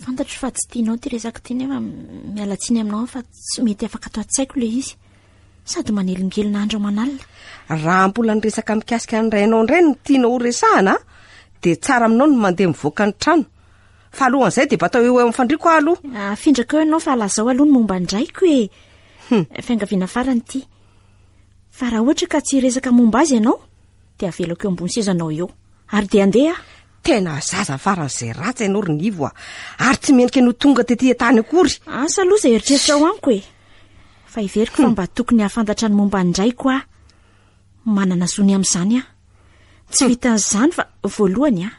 Fantatro fa tsy tianao ity resaka ity nefa miala tsiny aminao aho fa tsy mety afaka ato an-tsaiko ilay izy. Sady manelingelina andro aman'alina. Raha mbola niresaka mikasika ny rainao indray no tianao ho resahana dia tsara aminao ny mandeha mivoaka ny trano. Fa alohan'izay dia batao eo eo amin'ny fandriako aho aloha. Afindrako eo ianao fa lazao aloha ny momba ny raiko e. Hmm. Fiangaviana farany ity. Fa raha ohatra ka tsy hiresaka momba azy ianao dia avelako eo ambony sezanao eo. Ary dia andeha aho. Tena zaza faran'izay ratsy ianao ry Nivo a! Ary tsy mendrika no tonga tety an-tany akory! Asa aloha izay eritreritrao amiko e! Fa heveriko fa mba tokony hahafantatra ny momba ny raiko aho. Manana zo ny amin'izany aho. Tsy vitan'izany fa voalohany a!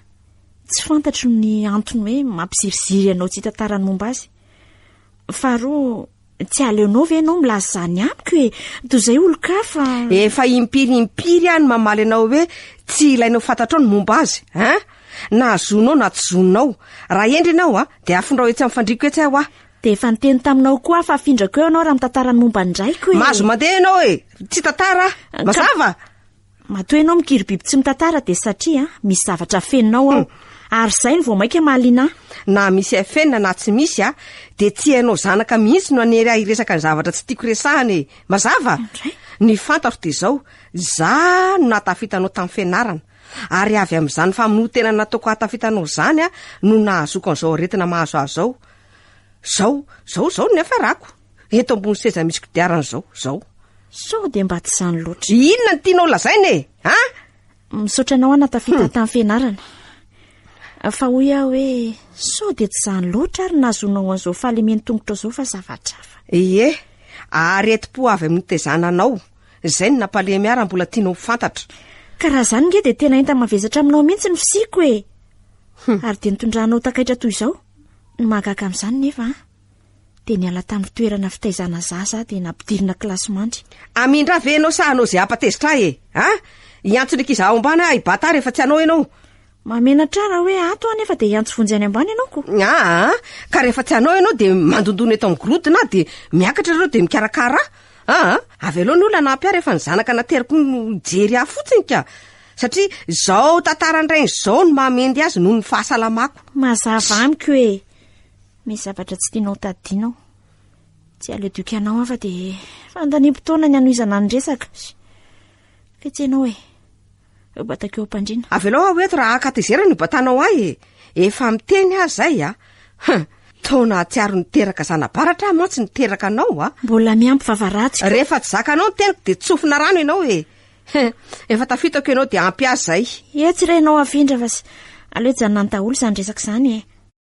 Tsy fantatro ny antony hoe mampiziriziry anao tsy hitantara ny momba azy. Faharoa, tsy aleonao ve ianao milaza izany amiko e? Toy izay olon-kafa. Efa impiry impiry aho no mamaly anao hoe tsy ilainao fantatrao ny momba azy, hein? Na zonao na tsy zonao. Raha hendry ianao a, dia afindrao etsy amin'ny fandriako etsy aho a. Dia efa niteny taminao koa aho fa afindrako eo ianao raha mitantara ny momba ny raiko e. Mahazo mandeha ianao e! Tsy tantara a! Mazava? Matoa ianao mikiribiby tsy mitantara dia satria misy zavatra afeninao ao. Ary izay no vao mainka mahaliana ahy. Na misy afenina na tsy misy a, dia tsy ianao zanaka mihitsy no hanery ahy hiresaka ny zavatra tsy tiako resahana e. Mazava? Indray. Ny fantatro dia izao, izaho no nahatafita anao tamin'ny fianarana. Ary avy amin'izany famonoan-tena nataoko hahatafita anao izany aho no nahazoako an'izao aretina mahazo ahy izao. Izao, izao, izao no niafarako. eto ambony seza misy kodiarana zao zao sao dia mba tsy izany loatra inona ny tianao lazaina e a misaotra anao ana tafita hmm. tamin'ny fianarana fa hoy aho hoe sao dia tsy izany loatra ary nazonao an'izao fahalemeny tongotra zao fa zavatrafa ee ary eti-po avy amin'ny tezana anao izay ny nampalemy ara mbola tianao fantatra ka raha izany nge dia tena enta mavesatra aminao mihitsy ny fisiko e hmm. ary dia nitondranao takaitra toy izao ny mahagaka amin'izany nefa a dia niala tamin'ny toerana fitaizana zaza aho dia nampidirina kilasy mandry. Amindra ve ianao sa hanao izay hampatezitra ahy e? Ah, hiantso ny ankizy ao ambany aho hibata rehefa tsy hanao ianao. Mahamenatra raha hoe ato aho nefa dia hiantso vonjy any ambany ianao ko. Ah, ka rehefa tsy hanao ianao dia mandondona eto amin'ny gorodona aho dia miakatra ireo dia mikarakara ahy. Ah, avy aloha ny olona nampy ahy rehefa ny zanaka nateriko no hijery ahy fotsiny ka. Satria izao tantara indray izao no mahamendy azy noho ny fahasalamako. Mazava amiko e. Misy zavatra tsy tianao tadidiana aho. Tsy aleo dioky anao aho fa dia fandaniam taona ny hanohizana ny resaka. Fetsy ianao e. Eo batako eo am-pandriana. Avelao aho eto raha hakatezerana io batanao ahy e. Efa miteny aho izay a. Hum, taona hatsiaro niteraka zana-baratra aho mantsy niteraka anao a. Mbola miampy vava ratsy koa. Rehefa tsy zakanao ny teniko dia tsofina rano ianao e. Hum, efa tafitako ianao dia ampy ahy izay. Etsy re ianao afindra fa aleo hijanona any daholo izany resaka izany e.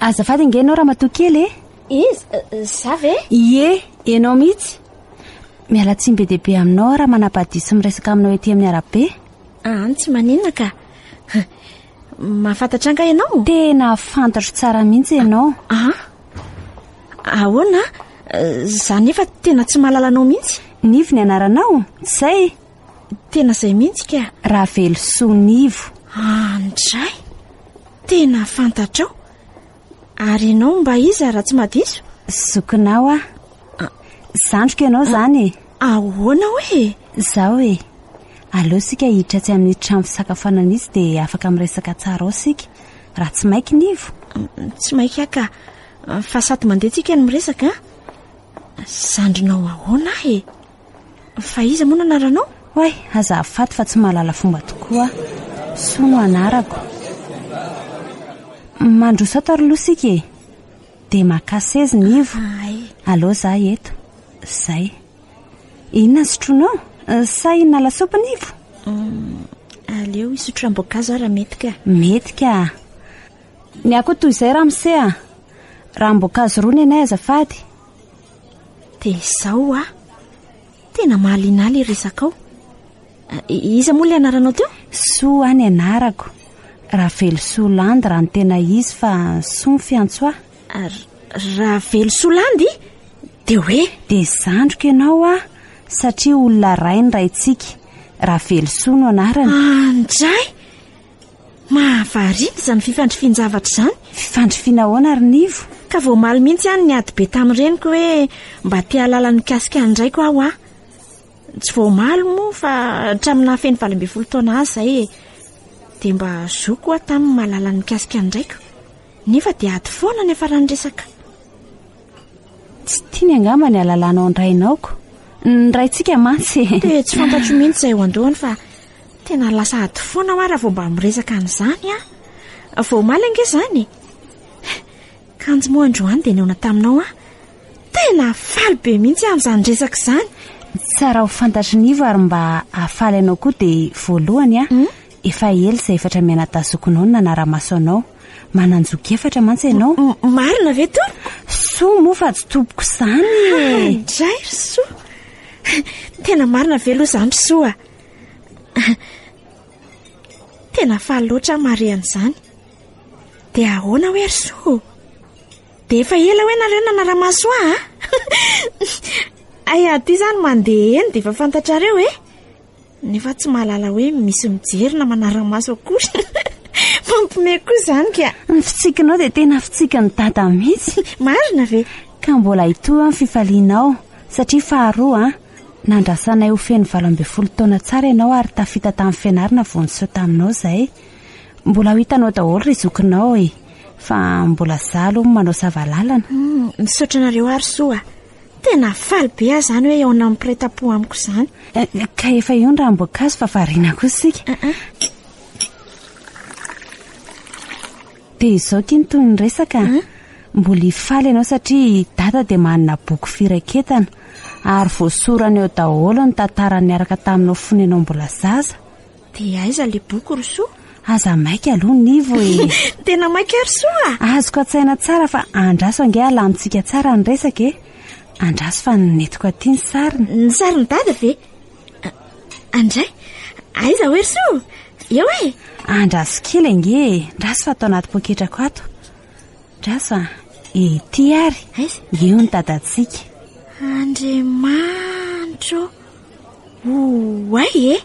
Azafady ange ianao ramatoa kely e! Iza? Za ve? Ie, ianao mihitsy. Miala tsiny be dia be aminao aho raha manabadiho sy miresaka aminao ety amin'ny arabe. An, tsy maninona ka. Mahafantatra angaha ianao? Tena fantatro tsara mihitsy ianao. An? Ahoana? Za nefa tena tsy mahalala anao mihitsy. Nivo ny anaranao? Tsy izay? Tena izay mihitsy ka. Ravelosoa Nivo. Andray! Tena fantatrao? Ary ianao mba iza raha tsy madiso? Zokinao aho. Ah. Zandriko ianao izany e. Ahoana hoe? Izao e. Aleo isika hiditra atsy amin'ny trano fisakafoanana itsy dia afaka miresaka tsara ao isika. Raha tsy maika Nivo. Tsy maika ka. Fa sady mandeha tsika no miresaka. Zandrinao ahoana aho e? Fa iza moa no anaranao? Oay, aza afaty fa tsy mahalala fomba tokoa aho. Soa no anarako. Mandroso ato ary loha sika e. Dia maka sezy ny ivo. Allo za eto. Zay. Inona ny sotroinao? Sa hinana lasopy ny ivo? Aleo hisotro ranom-boankazo aho raha mety ka. Mety ka. Ny ahy koa toy izay ramose a. Ranom-boankazo roa nenay azafady. Dia izao hoa. Tena mahaliana ahy ilay resakao. Eh, iza moa ilay anaranao teo? Soa any anarako. Ravelosoa Landy raha ny tena izy fa Soa ny fiantso ahy. Ary Ravelosoa Landy? Dia hoe? Dia zandriko ianao aho satria olona ray ny raintsika. Ravelosoa no anarany. Anjay! Mahavariana izany fifandrifian-javatra izany. Fifandrifiana ahoana ary Nivo? Ka voamaly mihitsy aho niady be tamin'ny reniko hoe mba te hahalala ny mikasika ny raiko aho a. Tsy voamaly moa fa hatramin'ny nahafeno valo ambin'ny folo taona azy izahay e. Dia mba zoky aho taminy mahalala ny mikasika ny raiko. Nefa dia ady foana niafaran'ny resaka. Tsy tiany angamba ny halalanao ny rainao ko. Ny raintsika mantsy. Dia tsy fantatro mihitsy izay eo an-dohany fa Tena lasa ady foana hoa raha vao mba miresaka an'izany an! Vao omaly ange izany e! Kanjo moa androany dia nihaona taminao aho. Tena faly be mihitsy aho amin'izany resaka izany. Tsara ho fantatry ny Ivo ary mba hahafaly anao koa dia voalohany an, hmm? efa ela izay efatra mianadazokinao no nanara-maso anao. Manan-joky efatra mantsy ianao. Marina ve to? Soa moa fa tsy tompoko izany e! Indray ry soa! Tena marina ve aloha izany ry soa? Tena faly loatra aho mahare an'izany. Dia ahoana hoe ry Soa? Dia efa ela hoe nareo nanara-maso ahy a? Hay aty izany mandeha eny dia efa fantatrareo e? Nefa tsy mahalala hoe misy mijery na manara-maso akory. Mampime koa izany ka. Ny fitsikinao dia tena fitsikin'ny dada mihitsy. Marina ve? Ka mbola hitohy ny fifalianao satria faharoa an. Nandrasanay ho feno valo ambin'ny folo taona tsara ianao ary tafita tamin'ny fianarana vao niseho taminao izay. Mbola ho hitanao daholo ry zokinao e! Fa mbola za aloha no manao sava lalana. Misaotra anareo ary soa. Tena faly be aho izany hoe eonan'ny mpiray tam-po amiko izany. Ka efa eo ny ranom-boankazo fa variana kosa isika. Dia izao ity ny tohin'ny resaka a! Mbola hifaly ianao satria i Dada dia manana boky firaketana ary voasorany ao daholo ny tantara niaraka taminao fony ianao mbola zaza. Dia aiza ilay boky ry Soa? Aza maika aloha ny Nivo e! Tena maika ry Soa a! Azoko an-tsaina tsara fa andraso ange alamintsika tsara ny resaka e! Andraso fa nentinko aty ny sariny. Ny sarin'i Dada ve? Andray, aiza hoe ry so? Eo e! Andraso kely ange e, ndraso fa ato anaty poketrako ato. Ndraso a, ety ary, eo ny dadantsika. Andriamanitro, oay e,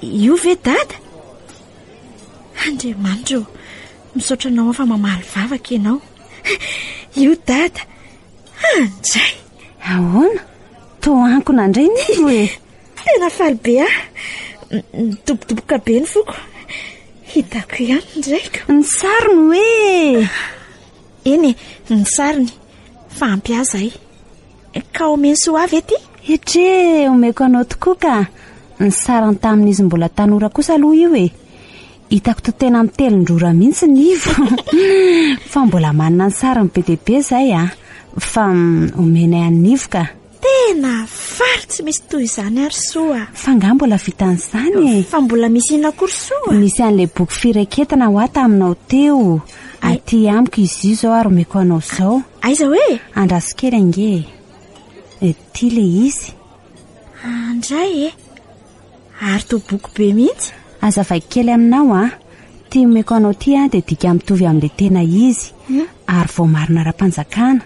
io ve dada? Andriamanitro, misaotra anao fa mamaly vavaka ianao. Io dada, andray. Ahoana? Toa ankona indray ny io e! Tena faly be aho. Nidobodoboka be ny foko. Hitako ihany ny raiko. Ny sariny hoe Eny e, ny sariny. Fa ampy ahy izay. Ka omeny soa avy ety? Hetre, omeko anao tokoa ka. Ny sariny tamin'izy mbola tanora kosa aloha io e. Hitako to tena mitelin-drora mihitsy ny ivo fa mbola manana ny sariny be dia be zay a. Fa omenay an'ny ivo ka. Tena faly tsy misy toy izany ary soa. Fa nga mbola vitan'izany e. Fa mbola misy ina koa ry soa? Nisy an'ilay boky fireketana hoa taminao teo. Aty amiko izy io zao ary omeko anao zao. Aiza hoe? Andraso kely ange e. Ity le izy. Andray e. Ary toa boky be mihitsy. Aza vaiko kely aminao a! Ty omeko anao ty a dia dika mitovy amin'ilay tena izy ary voamarina ara-panjakana.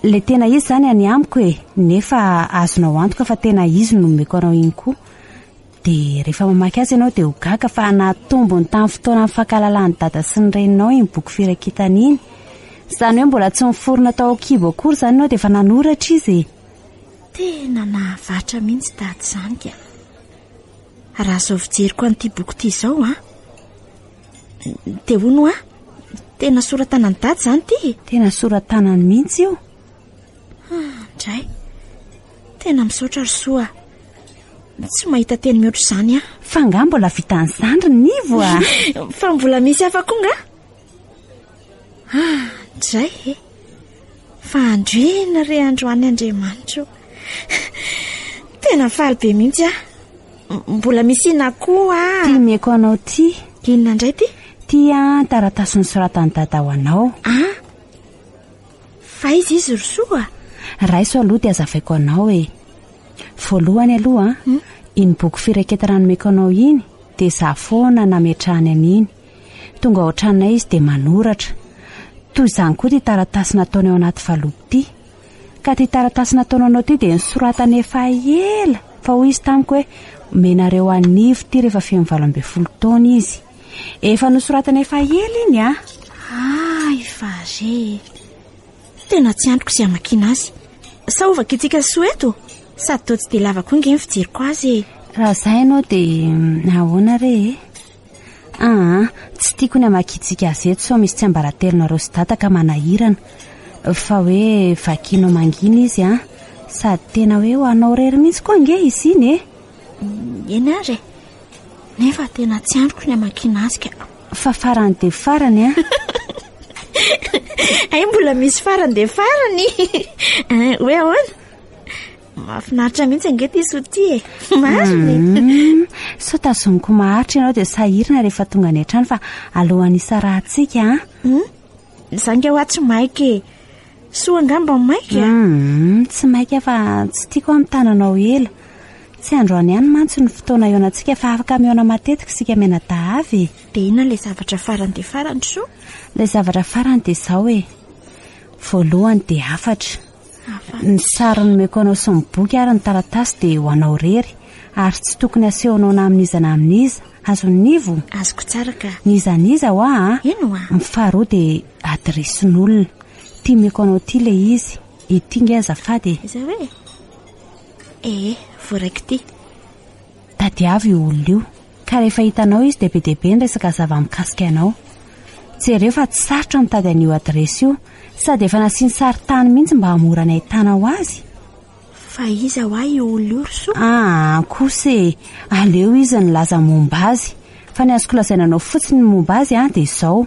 Ilay tena izy izany any amiko e, nefa azonao antoka fa tena izy no nomeko anao iny koa. Dia rehefa mamaky azy ianao dia ho gaga fa nahatombony tamin'ny fotoana nifankahalalan'i Dada sy ny Reninao iny boky firaketana iny. Izany hoe mbola tsy niforona tao an-kibo akory izany ianao dia efa nanoratra izy e! Tena nahavatra mihitsy tady izany ka. Raha izao fijeriko an'ity boky ity izao a. Dia hono a, tena sora-tanan'i tady izany ity e. Tena sora-tanany mihitsy io. Indray. Tena misaotra ry soa. Tsy mahita teny mihoatra izany a. Fa nga mbola vitan'ny zandriny nivo a. Fa mbola misy hafa koa nga? Ah, dray e! Fa androina re androany Andriamanitro. Tena faly be mihitsy ah. Mbola misy ina koa. Ty mieko anao ty. Inona indray ty? Ty an taratasy nisoratan'i dada ho anao. Ah, fa izy izy ry soa. Raiso aloha dia azavaiko anao e. Voalohany aloha, hmm? iny boky fireketana nomeko anao iny dia za foana nametrahany an'iny. Tonga ao an-tranonay izy dia manoratra. Toy izany koa ity taratasy nataony ao anaty valopy ity. Ka ity taratasy nataonao anao ity dia nosoratany efa ela fa hoy izy tamiko hoe omenareo an'i Ivo ity rehefa feno valo ambin'ny folo taona izy. Efa nosoratany efa ela iny an! Hay fa re e! Tena tsy andriko izay hamakiana azy. Sa ho vakintsika ny soa eto? Sady toa tsy dia lava koa ange ny fijeriko azy e! Raha izay ianao dia ahoana re e? Aa, tsy tiako ny hamakiantsika gazety sao misy tsiambaratelonareo sy dada ka manahirana. Fa hoe vakianao mangina izy an! Sady tena hoe ho anao irery mihitsy koa ange izy iny e! Eny ary e! Nefa tena tsy andriko ny hamakiana azy ka. Fa farany dia farany an! Hay mbola misy farany dia farany! Hoe ahoana? Mahafinaritra mihitsy ange ity sotia e. Marina e. Mm, sao tazoniko maharitra ianao dia sahirana rehefa tonga any an-trano fa alohan'ny hisarahantsika an. Ah. Mm, za nge hoa tsy maika e. Soa angamba maika. Mm, tsy maika fa tsy tiako amin'ny tananao ela. Tsy androany ihany mantsy ny fotoana ionantsika fa afaka mihaona matetika isika mianadahavy. Dia inona ilay zavatra farany dia farany soa? Ilay zavatra farany dia izao e. Voalohany dia hafatra. Ny sary nomeko anao sy ny boky ary ny taratasy dia ho anao rery ary tsy tokony asehonao na amin'iza na amin'iza. Azon'i Nivo? Azoko tsara ka. N'iza n'iza hoa a? Eny hoa. Ny faharoa dia adiresin'olona. Ity meko anao ity ilay izy. Ity nge azafady e. Izay hoe? Ee, voaraiko ity. Tadiavo io olona io, ka rehefa hitanao izy dia be dia be ny resaka zava-mikasika anao. Jereo fa tsy sarotra ny mitady an'io adiresy io, sady efa nasiany sarintany mihitsy mba hahamora ny hahitana ho azy. Fa iza hoa io olona io ry Soa? Aa kosa e! aleo izy nilaza momba azy. Fa ny azoko lazaina anao fotsiny ny momba azy dia izao,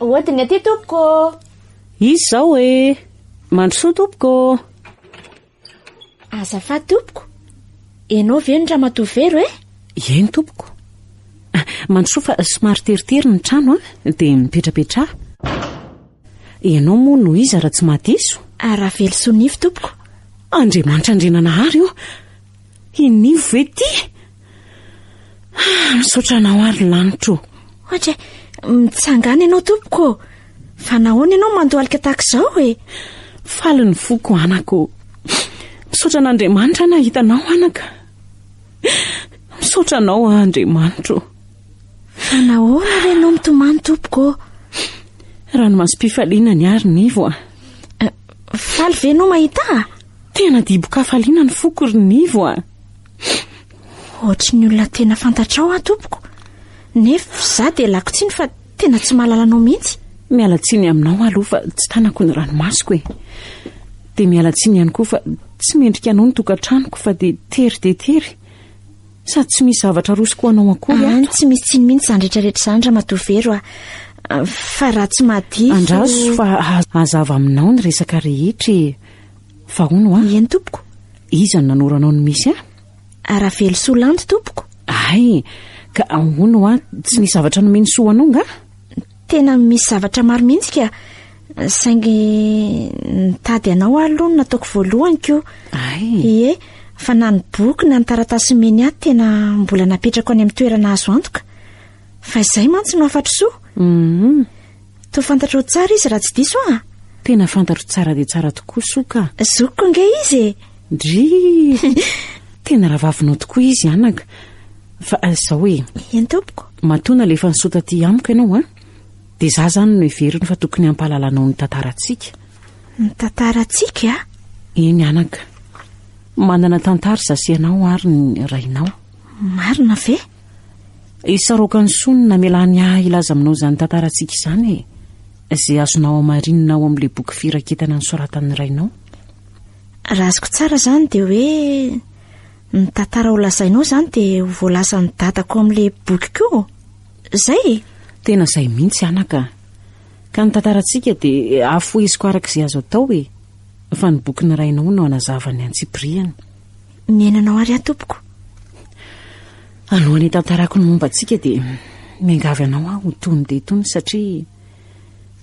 Hodiny aty tompoko. Izy zao e. Mandrosoa tompoko. Azafady tompoko. Enao ve ny ramatoa Vero e? Eny tompoko. Ah, mandrosoa fa somary teritery ny trano a, ah. dia mipetrapetraha. Ianao moa no iza raha tsy mahadiso? Aravelosoa Nify tompoko. Andriamanitra Andriananahary o. Hinivo ve ty? Ah, misaotra anao ary lanitra o. Ohatra e, mitsangana ianao tompoko. Fa nahoana ianao mandohalika tahaka izao e? Faly ny foko anako. Misaotra an'Andriamanitra nahita anao anaka. Misaotra anao Andriamanitro. Fa nahoana re ianao mitomany tompoko? Ranomasom-pifaliana ny ary nivo a. Eh, faly ve ianao mahita? Tena dibon-kafaliana ny foko ry Nivo a! Ohatry ny olona tena fantatrao aho tompoko, nefa izaho dia lako tsiny fa tena tsy mahalala anao mihitsy. Miala tsiny aminao aho aloha fa tsy tanako ny ranomasoko e! Dia miala tsiny ihany koa fa tsy mendrika anao ny tokantranoko fa dia tery dia tery. Sady tsy misy zavatra arosoko ho anao akory ato. Any tsy misy tsiny mihitsy izany rehetrarehetra izany Ramatoa Vero a! Fa raha tsy mahadiso... Andraso fa hazava aminao ny resaka rehetra e! Fa hono hoa. Ieny tompoko. Iza no nanoro anao ny misy ahy? Aravelosoa Landy tompoko. Hay, ka hono hoa, tsy nisy zavatra nomeny soa ho anao nga? Tena misy zavatra maro mihitsy ka, saingy nitady anao aho aloha no nataoko voalohany ko. Hay. Ie, fa na ny boky na ny taratasy nomeny ahy tena mbola napetrako any amin'ny toerana azo antoka. Fa izay mantsy no hafatr'soa. Hum. Toa fantatrao tsara izy raha tsy diso aho a! Tena fantatro tsara dia tsara tokoa Soa ka! Zokiko ange izy e! Drii! Tena rahavavinao tokoa izy anaka! Fa izao e! Eny tompoko! Matoa nalefa ny Soa taty amiko ianao a! Dia izaho izany no heveriny fa tokony hampahalala anao ny tantarantsika. Ny tantarantsika? Eny anaka! Manana tantara izaho sy ianao ary ny rainao. Marina ve? Isaroako an'i Soa ny namelany ahy hilaza aminao izany tantarantsika izany e! Izay azonao hamarinina ao amin'ilay boky firaketana nosoratan'ny rainao. Raha azoko tsara izany dia hoe ny tantara ho lazainao izany dia ho voalazan'ny dadako amin'ilay boky koa. Izay e! Tena izay mihitsy anaka. Ka ny tantarantsika dia afoheziko araka izay azo atao e! Fa ny bokin'ny rainao no hanazava ny antsipiriany. Ny ainanao ary aho tompoko. Alohan'ny hitantarako ny momba antsika dia miangavy anao aho ho tony dia tony satria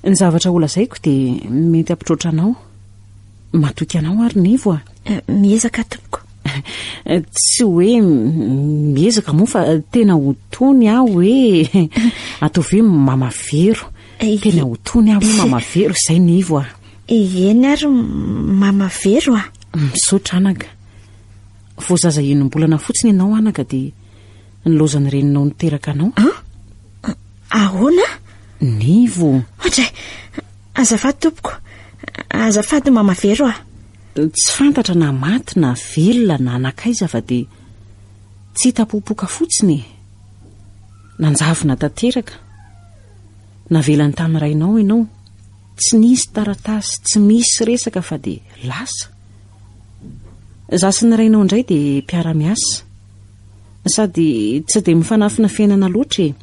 ny zavatra holazaiko dia mety hampitroatra anao. Matoky anao ary Nivo a. Eh, miezaka tompoko. Tsy hoe miezaka moa fa tena ho tony aho hoe ataovy hoe mamavero. Eh, tena ho tony aho hoe mamavero izay Nivo a. Eny ary mama vero a! Misaotra anaka. Vao zaza enim-bolana fotsiny ianao anaka dia nilaozan'ny reninao niteraka anao. An? Ahoana? Nivo. Ohatray! Azafady tompoko. Azafady mama vero a! Tsy fantatra na maty na velona na nankaiza fa dia tsy hita popoka fotsiny e! Nanjavona tanteraka. Navelany tamin'ny rainao ianao. Tsy nisy taratasy, tsy misy resaka fa dia lasa. Izaho sy ny rainao indray dia mpiara-miasa. Sady tsy dia mifanafina fiainana loatra e.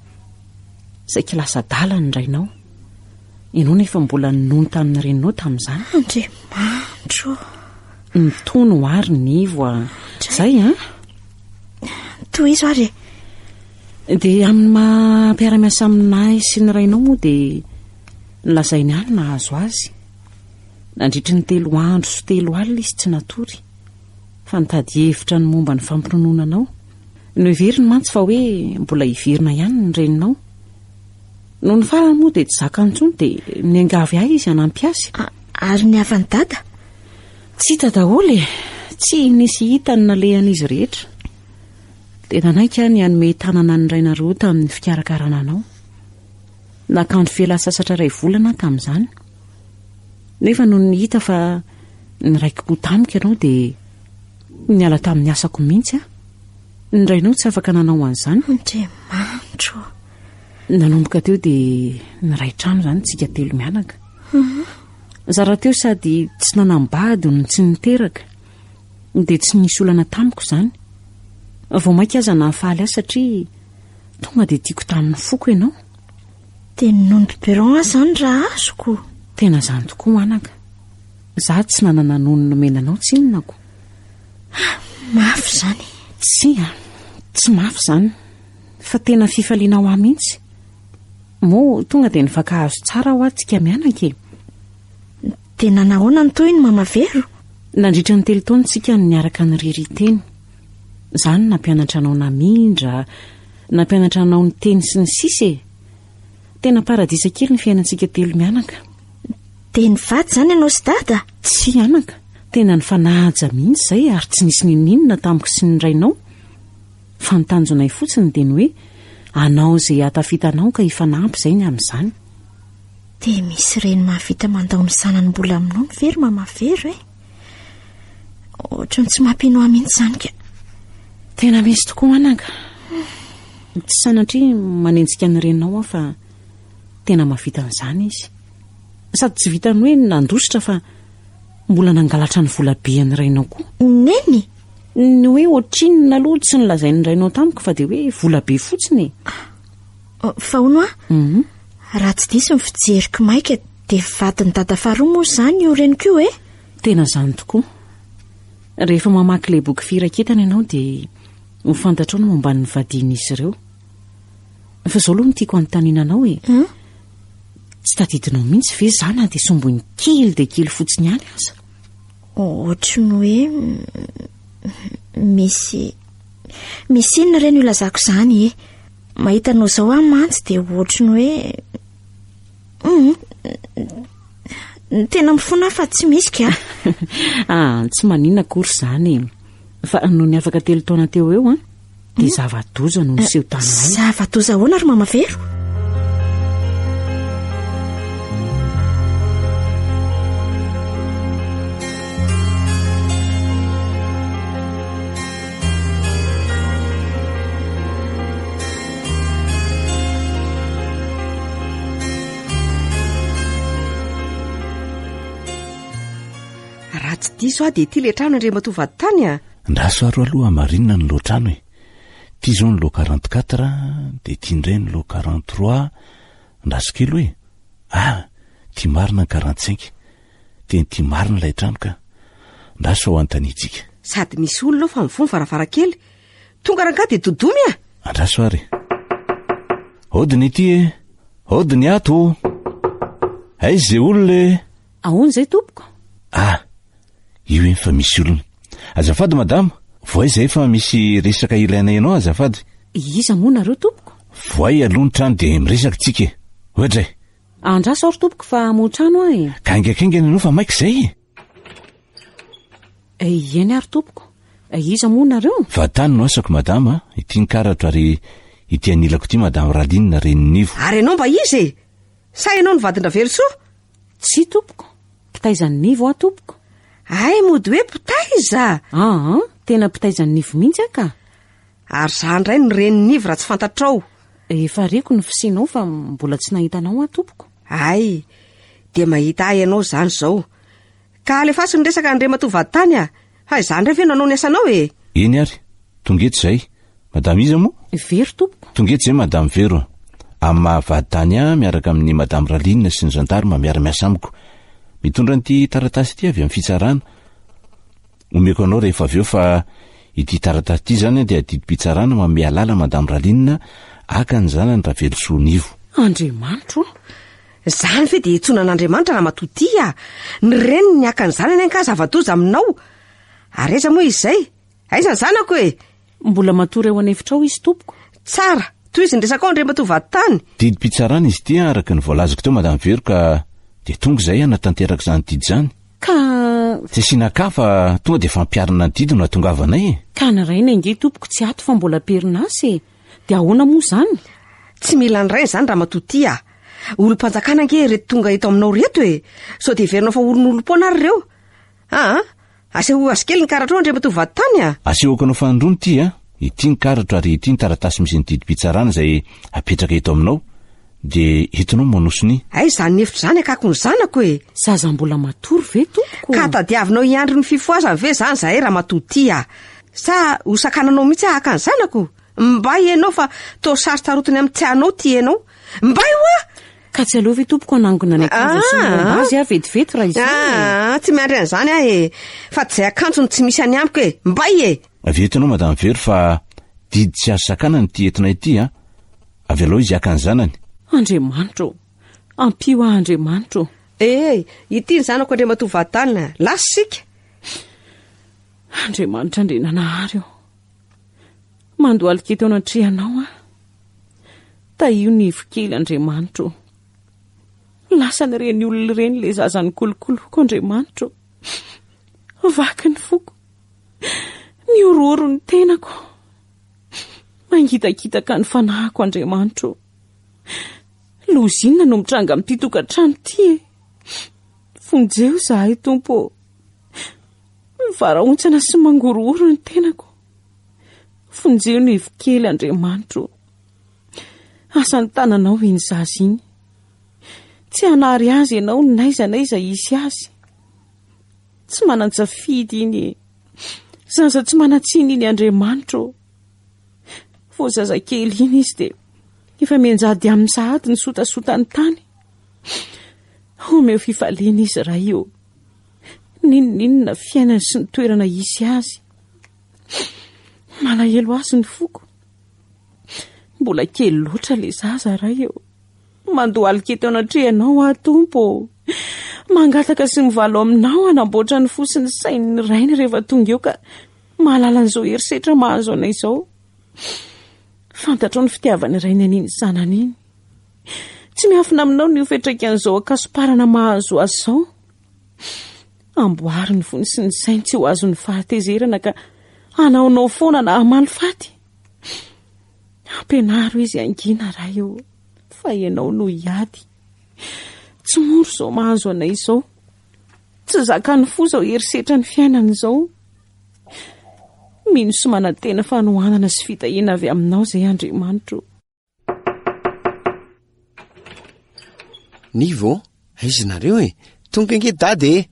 Saiky lasa adala ny rainao. Ianao nefa mbola ninono tamin'ny reninao tamin'izany. Andriamanitro. Nitony ho ary ny ivo a. Zay a. Tohizo ary e. Dia amin'ny maha mpiara-miasa aminay sy ny rainao moa dia Nolazainy ahy ny nahazo azy. Nandritry ny telo andro sy telo alina izy tsy natory, fa nitady hevitra ny momba ny fampinonoana anao. Noheveriny mantsy fa hoe mbola hiverina ihany ny reninao. Nony farany moa dia tsy zakany intsony dia niangavy ahy izy hanampy azy. Ary ny havan'i Dada? Tsy hita daholo e! Tsy nisy hita ny nalehan'izy rehetra. Dia nanaiky aho ny hanome tanana ny rainareo tamin'ny fikarakarana anao. Nakandro fialansasatra iray volana aho tamin'izany, nefa nony hita fa niraiki-po tamiko ianao dia niala tamin'ny asako mihitsy aho. Ny rainao tsy afaka nanao an'izany. Andriamanitro! Nanomboka teo dia niray trano izany tsika telo mianaka. Mhm. Zara teo sady tsy nanambady no tsy niteraka, dia tsy nisy olana tamiko izany. Vao mainka aza nahafaly ahy satria Tonga dia tiako tamin'ny foko ianao. Dia ny nom de Perron aza izany raha azoko. Tena izany tokoa anaka. Izaho tsy nanana nom nomena anao tsinonako. Ah, mafy izany. Tsia, tsy mafy izany. Fa tena fifaliana ho ahy mihitsy. Moa tonga dia nifankahazo tsara hoa tsika mianaka e. Dia nanahoana ny tohiny Mama Vero? Nandritra ny telo taona tsika no niaraka niririnteny. Za no nampianatra anao namindra, nampianatra anao niteny sy ny sisa e. Tena paradisa kely ny fiainantsika telo mianaka. Dia nivady zany ianao sy dada? Tsy anaka, tena nifanaja mihitsy zay ary tsy nisy nininona tamiko sy ny rainao. Fa ny tanjonay fotsiny dia ny hoe anao zay ahatafita anao ka hifanampy zay ny amin'izany. Dia misy reny mahavita mandao ny zanany mbola minono ve ry mama Vero e? Ohatran'ny tsy mampino ahy mihitsy izany ka. Tena misy tokoa anaka. Tsy sanatria manenjika ny reninao aho fa tena mavita an'izany izy. Sady tsy vitan'ny hoe nandositra fa mbola nangalatra ny vola be an'ny rainao koa. Neny? Ny hoe ohatrinona aloha tsy nilazain'ny rainao tamiko fa dia hoe vola be fotsiny. Ah, oh, fa hono aho. Mhm. Raha tsy diso ny fijeriko maika Dia vadin'i dada faharoa moa izany io reniko io e? Tena izany tokoa. Rehefa mamaky ilay boky Firaketana ianao dia ho fantatrao ny momba ny vadian'izy ireo. Fa izao aloha no tiako hanontaniana anao e. Hum? Tsy tadidinao mihitsy ve za na dia sombiny kely dia kely fotsiny ihany aza? Ohatry ny hoe mm, misy misy inona ireny ilazako izany e. Mahita anao izao aho mantsy dia ohatry ny hoe Ny tena mifona fa tsy misy ka. ah, tsy manina akory izany e. Fa nony afaka telo taona teo eo, an, dia hmm? zava-doza no niseho eh, taminay. Zava-doza ahoana ry mama Vero? raha tsy diso aho dia ity le trano andriamatoa vaditany a Andraso aro aloha hamarinina ny lohatrano e. Ity izao ny loha 44 dia ity indray ny loha 43 andraso kely hoe ah ity marina ny 45. Teny ty marina ilay trano ka. Ndra sao anontaniantsika. Sady misy olona ao fa mifoha ny varavarankely. Tonga rangahy dia dodomy a! Andraso ary. Hody ny ity e. Hody ny ato. Aiza izay olona e? Ahoana izay tompoko? Ah, io eny fa misy olona. Azafady madama, voay izay fa misy resaka ilaina ianao azafady. Iza moa nareo tompoko? Voay aloha ny trano dia miresaka tsika e. Oadray. Andraso aho ry tompoko fa hamoha trano aho e. Gaingaikaingana ianao fa maika izay e. Eh, eny ary tompoko. Eh, iza moa nareo? Fa tany no asako madama, ity ny karatra ary ity anilako ity madame Ralinina Reninivo. Ary ianao mba iza e? Sa ianao ny vadin-dRavelosoa? Tsia tompoko, mpitaizan'i Nivo aho tompoko. Hay mody hoe mpitaiza? Aa, tena mpitaizan'i Nivo mihitsy aho ka. Ary za indray ny reny niv raha tsy fantatrao. Efa reko ny fisinao fa mbola tsy nahita anao aho tompoko. Ay, dia mahita ahy ianao izany izao. Ka alefaso ny resaka Andriamatoa Vaditany a! Fa izaho indray ve no hanao ny asanao e! Eny ary, tonga eto izay. Madama iza moa? Vero tompoko. Tonga eto izay Madame Vero. Amin'ny maha Vaditany ahy miaraka amin'i Madame Ralinina sy ny Gendarme miara-miasa amiko. Mitondra an'ity taratasy ity avy amin'ny fitsarana. Omeko anao rehefa avy eo fa ity taratasy ity izany dia didim-pitsarana ho an'i Mialala Madame Raline Aka ny zanany Ravelosoa Nivo. Andriamanitro ô! Izany ve dia iantsoana an'Andriamanitra Ramatoa Tia? Ny reniny ny Aka ny zanany angaha zava-doza aminao? Ary aiza moa izay? Aiza ny zanako e? Mbola matory ao an'efitrao izy tompoko. Tsara! Tohizo ny resakao Andriamatoa Vaditany! Didim-pitsarana izy ity araka ny voalazako teo Madame Vero ka dia tonga izay hanatanteraka izany didy izany. Ka. Tsy asiana akaha fa tonga dia fampiharana ny didy no hatongavanay e! Ka naraina ange tompoko tsy ato fa mbola am-perinasa e! Dia ahoana moa izany? Tsy mila an'irainy izany Ramatoa Tia a! Olom-panjakana ange ireto tonga eto aminao ireto e! Sao dia heverinao fa oron'olom-poana ary ireo? Aa! Asehoy azy kely ny karatrao Andriamatoa Vaditany a! Asehoko anao fanindroany ity a! Ity ny karatra ary ity ny taratasy misy ny didim-pitsarana izay apetraka eto aminao dia entinao manoso ny. Hay izany efitra izany akako ny zanako e! Zaza mbola matory ve tompoko? Ka tadiavinao hiandry ny fifohazany ve izany izahay ramatoa ity a! Sa ho sakananao mihitsy aho haka ny zanako? Mbay ianao fa toa sary tarotiny amin'ny tsy anao ity ianao! Mbay hoa! Ka tsy aleo ve tompoko hanangona ny akanjo sy ny ah! lamba azy aho vetivety raha izany e? ah, ah, Tsy miandry an'izany aho e Fa tsy izay akanjo no tsy misy any amiko e Mbay e Avy eto ianao madame Vero fa didy tsy azo sakanana ity entina ity a Avy alao izy haka ny zanany Andriamanitra o Ampio ahy Andriamanitra o Ee, eh, ity ny zanako Andriamatoa Vadana Lasa isika Andriamanitra Andriananahary o Mandohalika eto anatrehanao aho. Tahio ny ivo kely, Andriamanitro ô. Lasan'ireny olona ireny ilay zaza nikolokoloko, Andriamanitro ô. Vaky ny foko. Nihorohoro ny tenako. Mangitakitaka ny fanahiko, Andriamanitro ô. Lozinina no mitranga amin'ity tokantrano ity e. Vonjeo izahay, Tompo ô. Mivarahontsana sy mangorohoro ny tenako. Vonjeo ny ivy kely Andriamanitro o. Asan'ny tananao iny zaza iny. Tsy hanary azy ianao n'aiza n'aiza hisy azy. Tsy manan-tsafidy iny e. Zaza tsy manan-tsiny iny Andriamanitro o. Vao zazakely iny izy dia efa mianjady amin'ny sahady ny sotasotany tany. Omeo fifaliana izy Ray o. N'inon'inona fiainany sy ny toerana hisy azy. Malahelo azy ny foko. Mbola kely loatra ilay zaza ray eo. Mandohalika eto anatrehanao aho tompo. Mangataka sy mivalo aminao hanamboatra ny fo sy ny sain'ny rainy rehefa tonga eo ka mahalala an'izao herisetra mahazo anay izao. Fantatrao ny fitiavan'ny rainy an'iny zanany iny. Tsy miafina aminao ny ho fiantraikan'izao ankasoparana mahazo azy izao. Amboary ny vony sy ny sainy tsy ho azon'ny fahatezerana ka hanaonao foana na hamaly faty. Ampianaro izy hangina Ray ô, fa Ianao no hiady. Tsy mora izao mahazo anay izao. Tsy zakan'ny fo izao herisetran'ny fiainana izao. Mino sy manantena fanohanana sy fitahiana avy Aminao izay Andriamanitra ô. Nivo, aiza nareo e? Tonga nge dada e!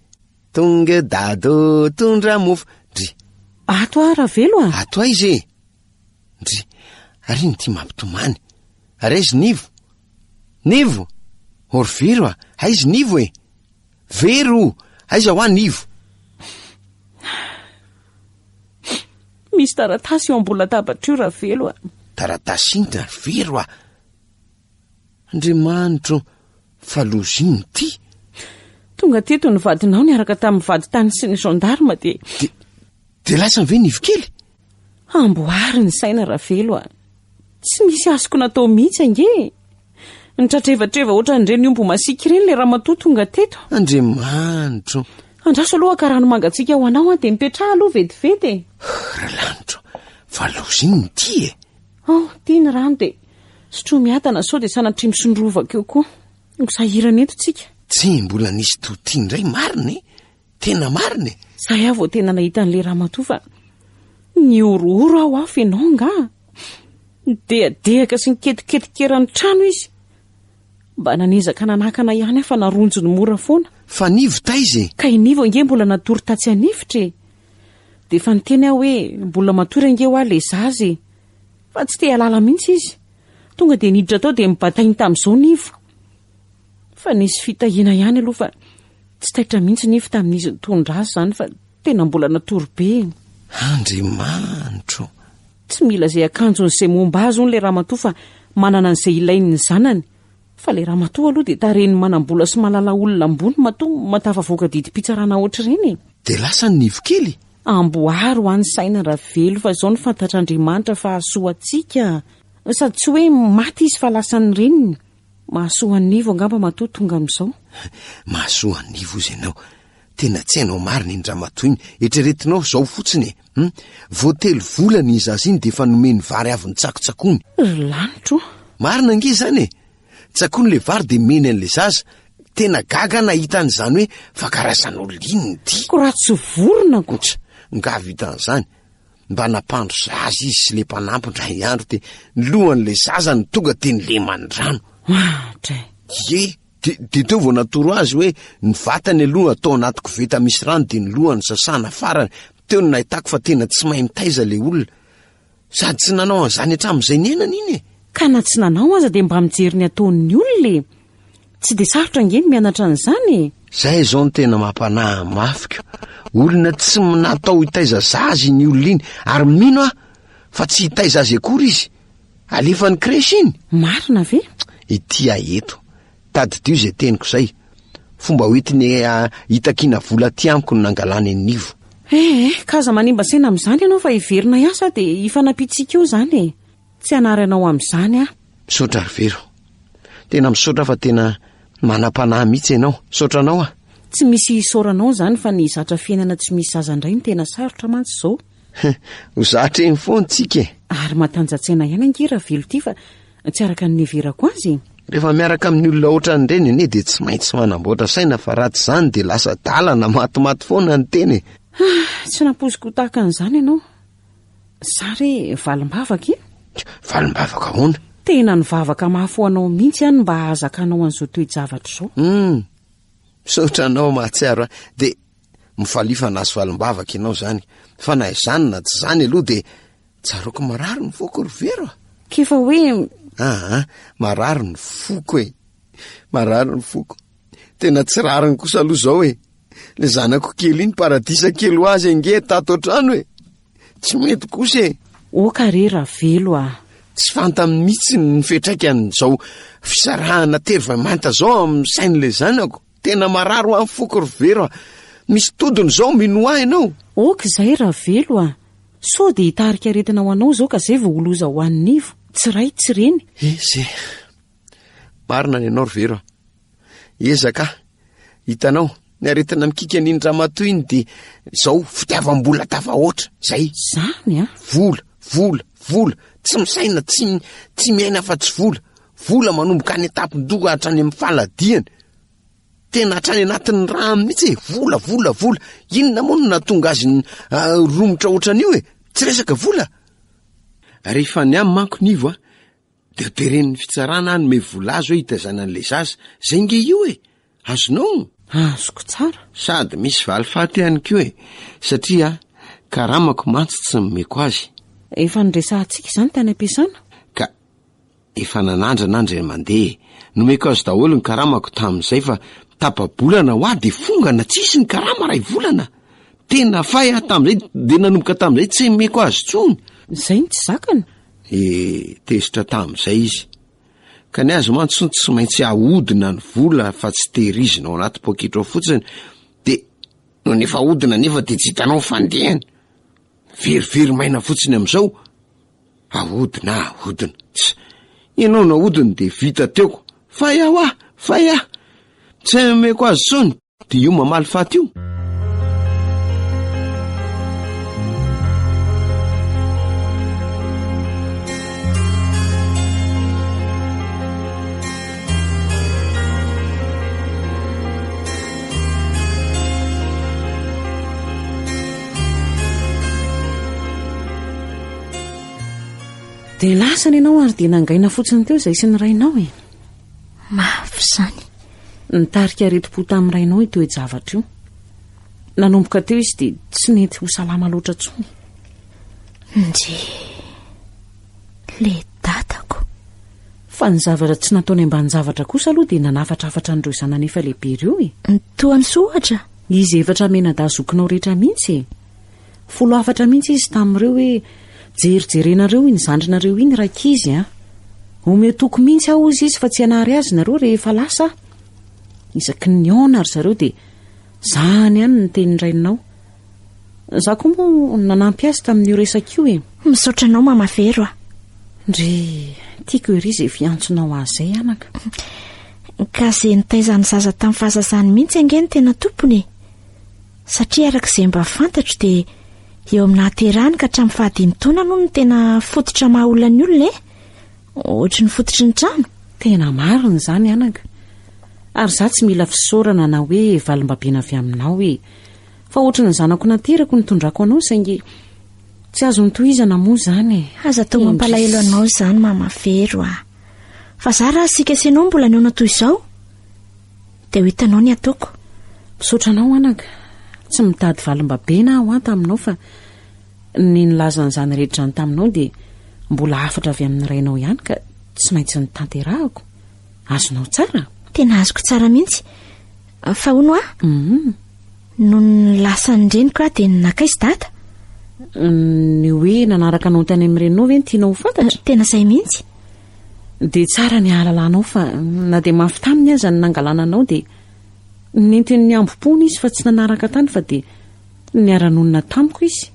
Tonga dada o, tondra mofo, ndry. Ato aho Ravelo a! Ato aiza e? Ndry, ary ino ity mampitomany? Ary aiza Nivo? Nivo! Orviro a, aiza Nivo e? Very o! Aiza hoa ny ivo? Misy taratasy eo ambony latabatra io Ravelo a! Taratasy inona ry Vero a! Andriamanitro o! Fa loza inona ity? Tonga teto ny vadinao niaraka tamin'ny vady tany sy ny gendarme dia. Dia lasa ny ve ny ivokely? Amboary ny saina Ravelo a! Tsy nisy azoko natao mihitsy ange e! Nitratrevatreva ohatran'ireny omby masiaka ireny ilay ramatoa tonga teto. Andriamanitro! Andraso aloha ka rano mangatsiaka ho anao an, dia mipetraha aloha vetivety e! Ralanitro, fa loza iny ny tia e! Ao, ity ny rano dia sotroy miadana sao dia sanatria misondrovaka eo koa. Ho sahirana eto tsika. Tsia, mbola nisy toa ity indray marina e! Tena marina e! Zay aho vao tena nahita an'ilay ramatoa fa nihorohoro aho afo ianao angaha? Nidehadehaka sy niketiketika eran'ny trano izy. Mba nanezaka nanakana ihany aho fa naronjony mora foana. Fa Nivo taiza e? Ka i Nivo ange mbola natory tatsy an'efitra e! Dia efa niteny aho hoe mbola matory ange hoa ilay zaza e! Fa tsy te-hialala mihitsy izy. Tonga dia niditra tao dia nibatainy tamin'izao Nivo. Fa nisy fitahiana ihany aloha fa tsy taitra mihitsy nify tamin'izy nitondra azy izany fa tena mbola natory be. Andriamanitro! Tsy mila izay akanjony izay momba azy hono ilay ramatoa fa manana an'izay ilainy ny zanany. Fa ilay ramatoa aloha dia tarehin'ny manam-bola sy mahalala olona ambony matoa mahatafavoaka didim-pitsarana ohatr'ireny e! Dia lasa ny nivo kely? Amboary ho any saina Ravelo fa izao no fantatr'Andriamanitra fa hahasoa antsika. Sady tsy hoe maty izy fa lasan'ny reniny. Mahasoa an'ivo angamba matoa tonga amin'izao. Mahasoa an'ivo ozy ianao. Tena tsy hainao marina iny ramatoa iny. Eritreretinao izao fotsiny e. Hum? Vao telo volana iny zaza iny dia efa nomeny vary avy nitsakotsakony. Ry lanitro. Marina ange izany e. Tsakony ilay vary dia meny an'ilay zaza. Tena gaga aho nahita an'izany hoe fakarasan'olona iny ity. Ko raha tsy vorona ko. Tsa, nga vitan'izany. mba nampandro zaza izy sy le mpanampo ndray andro de ny lohan'la zaza ny tonga de ny lemany rano atra ye de de teo vao natoro azy hoe ny vatany aloha atao anaty koveta misy rano de ny lohany sasana farany teo ny nahitako fa tena tsy mahay mitaiza le olona sady tsy nanao an'izany hatramin'izay niainana iny e ka na tsy nanao aza de mba mijery ny ataon'ny olona e Tsy dia sarotra ange ny mianatra an'izany e! Zay izao no tena mampanahy mafy ko. Olona tsy natao hitaiza zaza iny olona iny ary mino aho fa tsy hitaiza azy akory izy. Alefa any crèche iny. Marina ve? Ity ahy eto. Tadidio izay teniko izay. Fomba hoentiny ah, hitakiana vola aty amiko no nangalany an'ivo. Eh eh, ka aza manimba saina amin'izany ianao fa heverina hiasa dia hifanampiantsika eo izany e! Tsy hanary anao amin'izany aho. Misaotra ry Vero. Tena misaotra fa tena manam-panahy mihitsy ianao. Misaotra anao aho. Tsy misy isaoranao izany fa ny zatra fiainana tsy misy zaza indray no tena sarotra mantsy izao. Ho zatra eny foana tsika e. Ary matanja-tsaina ihany ange Ravelo ity fa tsy araka ny niheverako azy e. Rehefa miaraka amin'ny olona ohatran'ireny anie dia tsy maintsy manamboatra saina fa raha tsy izany dia lasa dalana matimaty foana ny tena e. Ah, tsy nampoiziko ho tahaka an'izany ianao. Za re valimbavaka e! Valimbavaka ahoana? Tena nivavaka mafy ho anao mihitsy aho ny mba hahazakanao an'izao toe-javatra izao. Hum, misaotra anao mahatsiaro ahy. Dia mifalifa nahazo valimbavaka ianao izany. Fa na izany na tsy izany aloha dia tsaroako marary ny foko ry Vero a! K'efa hoe. Aa, marary ny foko e! Marary ny foko. Tena tsy rariny kosa aloha zao e. Le zanako kely iny paradisa kely ho azy ange tato an-trano e. Tsy mety kosa e. Oka re Ravelo ah. Tsy fantany mihitsy ny fiatraikan'izao fisarahana tery vay manta zao amin'ny sain'le zanako. Tena marary ho an'ny foko ry Vero ah. Misy todiny zao minoa ianao. Ok izay Ravelo ah. Sao dia hitarika aretina ho anao zao ka zay vao ho loza ho an'ny ivo. Tsy ray tsy reny. Ese. Marina ny anao ry vero a. Ezaka a. Hitanao, ny aretina mikiky an'iny ramatoa iny dia izao fitiavam-bola tafahoatra. Zay. Zany a. Vola, vola, vola. Tsy misaina, tsy tsy miaina fa tsy vola. Vola manomboka any an-tampon-doha hatrany amin'ny faladiany. Tena hatrany anatin'ny rà mihitsy e. Vola, vola, vola. Inona moa no nahatonga azy ny ah, romotra ohatran'io e. Tsy resaka vola. Rehefa ny ahy manko nivo a, De ho teren'ny fitsarana hanome vola azo hoe hitaizana an'ilay zaza. Zay nge io e! Azonao ny. Azoko tsara. Sady misy valifaty ihany koa e! Satria karamako mantsy tsy nomeko azy. Efa niresahantsika izany tany am-piasana. Ka efa nanandrana an-dry Andriamandeha e! Nomeko azy daholo ny karamako tamin'izay fa tapa-bolana ho ahy de fongana tsy hisy ny karama iray volana. Tena fay aho tamin'izay de nanomboka tamin'izay tsy nomeko azy intsony. Zay no tsy zakany. ny tezitra tamin'izay izy. Ka ny azy mantsy tsy maintsy ahodina ny vola fa tsy tehirizina ao anaty poketra ao fotsiny, de no nefa ahodina nefa de tsy hitanao ny fandehany. Verivery maina fotsiny amin'izao, ahodina ahodina. Tsa, ianao nahodiny de vita teo. Fay aho ah! Fay ah! Tsy omeko azy intsony. Dia io mamaly faty io? Dia lasa ny anao ary dia nangaina fotsiny teo izay sy ny rainao e. Mafy izany. Nitarika aretim-po tamin'ny rainao io toe-javatra io. Nanomboka teo izy dia tsy nety ho salama loatra intsony. Nje, le dadako. Fa ny zavatra tsy nataony ambanin-javatra kosa aloha dia nanafatrafatra an'ireo zanany efa lehibe ireo e. Toa ny sohatra? Izy efatra menadaha zokinao rehetra mihitsy e. Folo hafatra mihitsy izy tamin'ireo hoe, Jerijerenareo iny zandrinareo iny rankizy an! Omeo toky mihitsy aho hozy izy fa tsy hanary azy nareo rehefa lasa aho. Isaky ny nihaona ry zareo dia, Zany ihany ny tenin'ny raininao. Za koa moa nanampy azy tamin'io resaka io e. Misaotra anao mama Vero a. Ndry, tiako ery izay fiantsonao azy izay anaka. Ka izay nitaiza ny zaza tamin'ny fahazazany mihitsy ange ny tena tompony e. Satria araka izay mba fantatro dia eo amin'ny nahaterahany ka hatramin'ny fahadimy taona aloha no tena fototra maha olona ny olona e. Ohatry ny fototry ny trano. Tena marina izany anaka. Ary za tsy mila fisaorana na hoe valimbabiana avy aminao e. Fa ohatry ny zanako naterako no tondrako anao saingy tsy azo nitohizana moa izany e. Aza atao mampalahelo anao izany mama Vero a. Fa za raha asika sy ianao mbola nihaona toy izao, Te ho hitanao ny ataoko. Misaotra anao anaka. Tsy mitady valimbabena aho an taminao fa ny nilaza an'izany rehetra izany taminao dia mbola hafatra avy amin'ny rainao ihany ka tsy maintsy notanterahako. Azonao tsara? Tena azoko tsara mihitsy. Fa hono aho, Mhm. nony lasa ny reniko aho dia nakaiza dada? Ny hoe nanaraka anao tany amin'ny reninao ve no tianao ho fantatra? Tena izay mihitsy. Dia tsara ny hahalalanao fa na dia mafy taminy aza ny nangalana anao dia nentin'ny hambom-pony izy fa tsy nanaraka tany fa dia niara-nonina tamiko izy.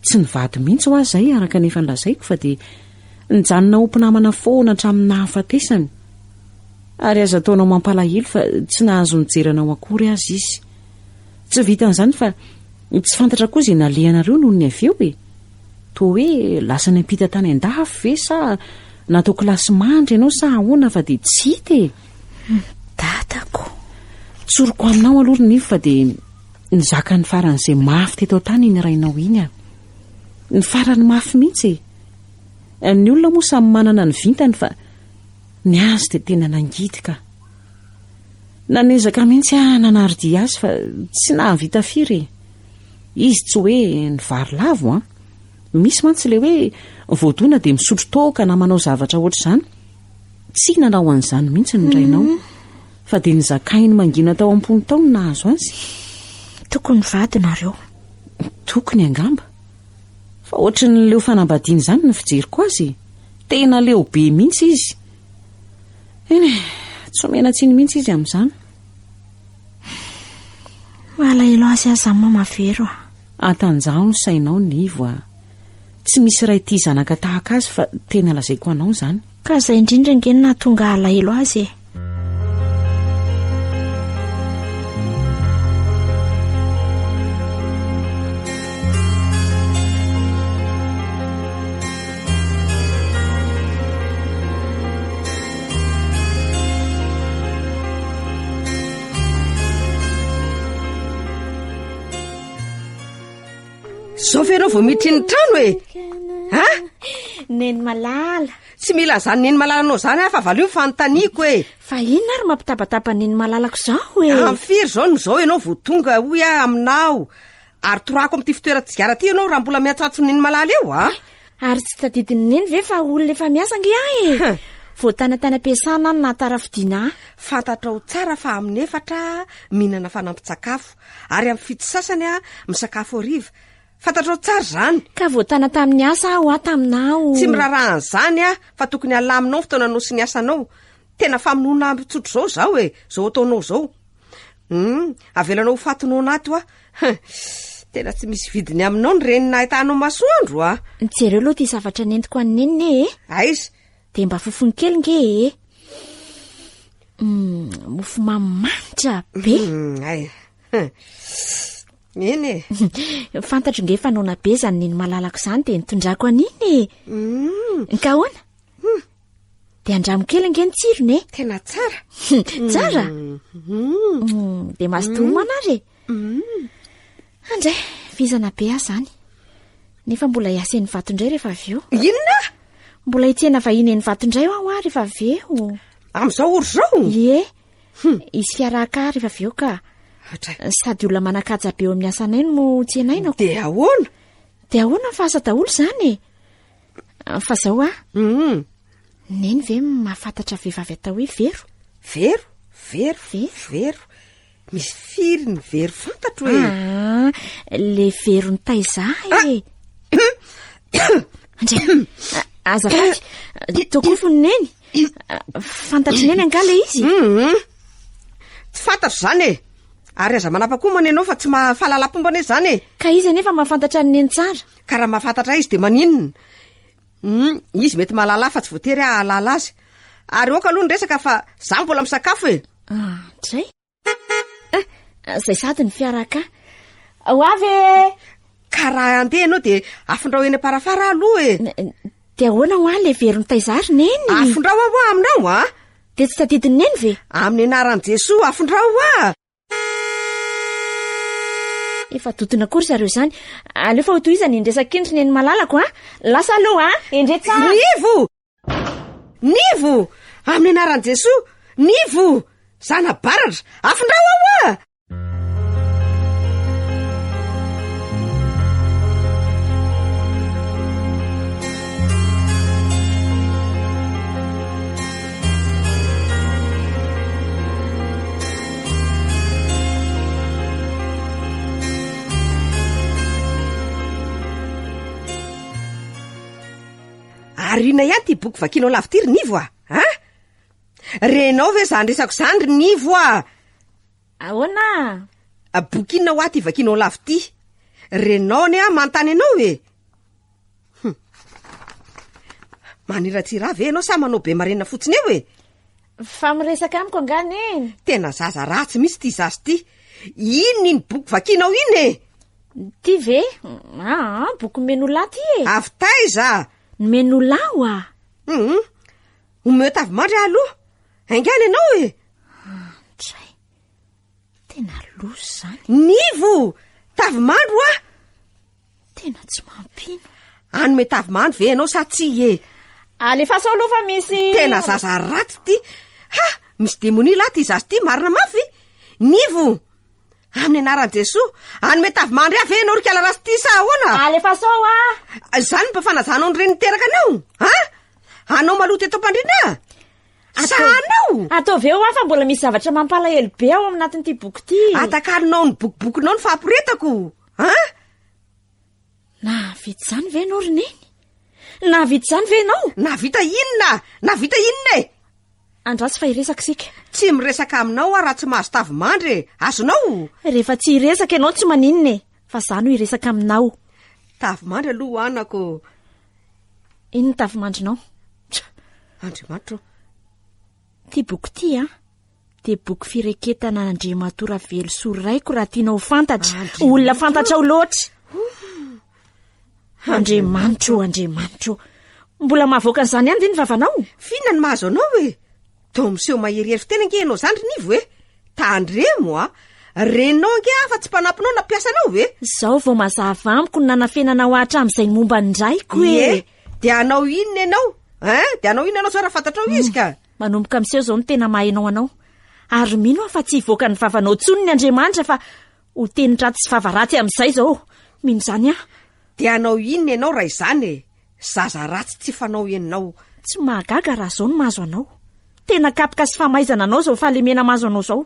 Tsy nivady mihitsy ho aho izay araka ny efa nolazaiko fa dia nijanona ho mpinamana foana hatramin'ny nahafatesany. Ary aza ataonao mampalahelo fa tsy nahazo nijery anao akory aza izy. Tsy vitan'izany fa tsy fantatra koa izay nalehanareo nony avy eo e! Toa hoe lasa niampita tany an-dafy ve sa natao kilasy mandry ianao sa ahoana fa dia tsy hita e. Dadako. Tsoriko aminao aloha ry Nivo fa dia nizaka ny faran'izay mafy teto an-tany iny rainao iny aho. Ny farany mafy mihitsy e. Ny olona moa samy manana ny vintany fa ny azy dia tena nangidy ka. Nanezaka mihitsy aho nanaro-dia azy fa tsy nahavita firy e. Izy tsy hoe ny vary lavo an! Misy mantsy ilay hoe voadona dia misotro toaka na manao zavatra hoatr'izany. Tsy nanao an'izany mihitsy ny rainao. Mhm. Fa dia nizakainy mangina tao am-pony tao ny nahazo azy. Tokony vady nareo. Tokony angamba. Fa hoatry ny leo fanambadiana izany ny fijeriko azy. Tena leo be mihitsy izy. Eny e, tsy omena tsiny mihitsy izy amin'izany. Malahelo azy aza an mama vero a. Antanjaho ny sainao Nivo a. Tsy misy ray tia zanaka tahaka azy fa tena lazaiko anao izany. Ka izay indrindra ange no nahatonga alahelo azy e. zao ve ianao vao miditry ny trano e a ah? neny malala tsy mila zany neny malala anao zany ah fa valo io fanontaniako e fa inona ary mampitabataba neny malalako zao e ah, amfiry zao no zao ianao vo tonga hoy ah aminao Ary torako amin'ity fitoeran-tsigara ity ianao raha mbola mihatsatso ny neny malala eo a! Eh, ary tsy tadidin'ny neny ve fa olona efa miasa ange aho e! Huh. Vao tana tany am-piasana aho no nahatara fidiana ahy. Fantatrao tsara fa amin'ny efatra aho mihinana fanampin-tsakafo, ary amin'ny fito sasany aho misakafo hariva. Fantatrao tsara izany. Ka vao tana tamin'ny asa aho aho taminao. Tsy miraraha an'izany aho fa tokony halaminao ny fotoananao sy ny asanao. Tena famonoana ambin-tsotro izao izaho e, izao ataonao izao. Hum, avelanao ho faty noana ato a. Tena tsy misy vidiny aminao ny reny nahitanao masoandro a. Jereo aloha ity zavatra nentiko an'i Neny e. Eh. Aiza? Dia mba fofony kely nge e. Eh. Hmm, mofo mamy manitra be. Hmm, ay. Neny e. Fantatro nge fa noana be izany neny malalako izany dia nitondrako an'iny e. Hmm. Nkahoana? Dia andramo kely ange ny tsirony e. Tena tsara. Tsara? Mm, Dia mazotoa homana ary e. Andray, vizana be aho izany. Nefa mbola hiasa eny vato indray rehefa avy eo. Inona? Mbola hitsena vahiny eny vato indray aho ary rehefa avy eo. Amin'izao ory izao? Ie, hisy fiarahaka ary rehefa avy eo ka. Hatray. Sady olona manan-kaja be eo amin'ny asanay no tsenainako. Dia ahoana? Dia ahoana ny fahasa daholo izany e? Fa zao a. Hum. Neny ve mahafantatra vehivavy atao hoe Vero? Vero? Vero? Vero? Vero? Misy firy ny Vero fantatro e? Ah, le Vero ny taiza ah! e. Ndray. Aza faty. Tokofo ny neny. Fantatry neny angaha le izy? Hum. Tsy fantatro zany e. Ary aza manapa koa moa nenao fa tsy mahafalalam-pomba anie zany e. Ka izy anefa mahafantatra ny neny tsara. Ka raha mahafantatra ahy izy dia maninona? Hum, izy mety mahalala ahy fa tsy voatery aho hahalala azy. Ary aoka aloha ny resaka fa za mbola misakafo e. Ah, dray. Ah, zay sady ny fiara ka. Ho avy e! Ka raha handeha ianao dia afindrao eny am-parafara aloha e. Dia ahoana ho ahy le veron'i Taizary neny? Afindrao aho aminao a. Dia tsy tadidin'i neny ve? Amin'ny anaran'i Jesoa, afindrao aho. Efa dodona koa ry zareo izany. Aleo fa hotohizana iny resaka iny ry neny malalako a. Lasa aloha a. Endrey tsara. Nivo! Nivo! Amin'ny anaran'i Jesoa, nivo! Zana baratra, afindrao ao a! arina ihany ty boky vakinao lavity ry nivo a a renao ve zany resako zany ry nivo a ahoana bokinina ho aty vakinao lavity renao ny a manontany ianao e Hum. Maniratsira ve ianao sa manao be marenina fotsiny eo e? Fa miresaka amiko angaha neny? Tena zaza ratsy mihitsy ity zaza ity. Inona iny boky vakianao iny e? Ty ve? Aa, boky Menolà ty e. Avy taiza? Ny Menolà wa. Hum. Omeo tavy mandry aho aloha. Haingana ianao e. Tray. Tena loza izany. Nivo! Tavy mandry wa. Tena tsy mampino. Anome tavimandry ve ianao sa tsy e? Alefaso aloha fa misy Tena zaza raty ty. Ha, misy demonia lahy ty zaza ty, marina mafy. Nivo. Amin'ny anaran'i Jesoa, anome tavimandry ahy ve ianao ry kala ratsy ty sa ahoana? Alefaso a! Izany mba fanajanao ny reny niteraka anao? Ha? Anao maloto eto am-pandriana? Sa anao? Ataovy eo aho fa mbola misy zavatra mampalahelo be ao anatin'ity boky ity. Atakalonao ny bokibokinao ny fahaporetako. An! Nahavita izany ve ianao ry Neny? Nahavita izany ve ianao? Nahavita inona? Nahavita inona e? Andraso fa hiresaka isika. Tsy miresaka aminao aho raha tsy mahazo tavimandry e. Azonao? Rehefa tsy hiresaka ianao tsy maninona e. Fa izaho no hiresaka aminao. Tavimandry aloha ho anako. Inona ny tavimandrinao? Andriamanitra o. Ity boky ity an. dia boky fireketana an'Andriamatoa Ravelosoa Raiko raha tiana ho fantatra. Olona fantatrao loatra. Andriamanitra ô, Andriamanitra ô. Mbola mahavoaka an'izany ihany ve ny vavanao? F'inona no mahazo anao e? Toa miseho maherihery fiteny ange ianao izany ry Nivo e. Tandremo a! Renao ange aho fa tsy mpanampinao na mpiasanao ve? Izao vao mazava amiko ny nanafenanao ahy hatramin'izay ny momba ny raiko e. Ie, dia hanao inona ianao? Ein, dia hanao inona ianao izao raha fantatrao izy ka? Manomboka miseho izao ny tena maha ianao anao. Ary mino aho fa tsy hivoaka ny vavanao intsony ny Andriamanitra fa ho teny ratsy sy vava ratsy amin'izay izao. Mino izany aho. Dia hanao inona ianao raha izany e? Zaza ratsy tsy fanao ianao. Tsy mahagaga raha izao no mahazo anao. Tena kapoka sy famaizana anao izao fahalemena mahazo anao izao.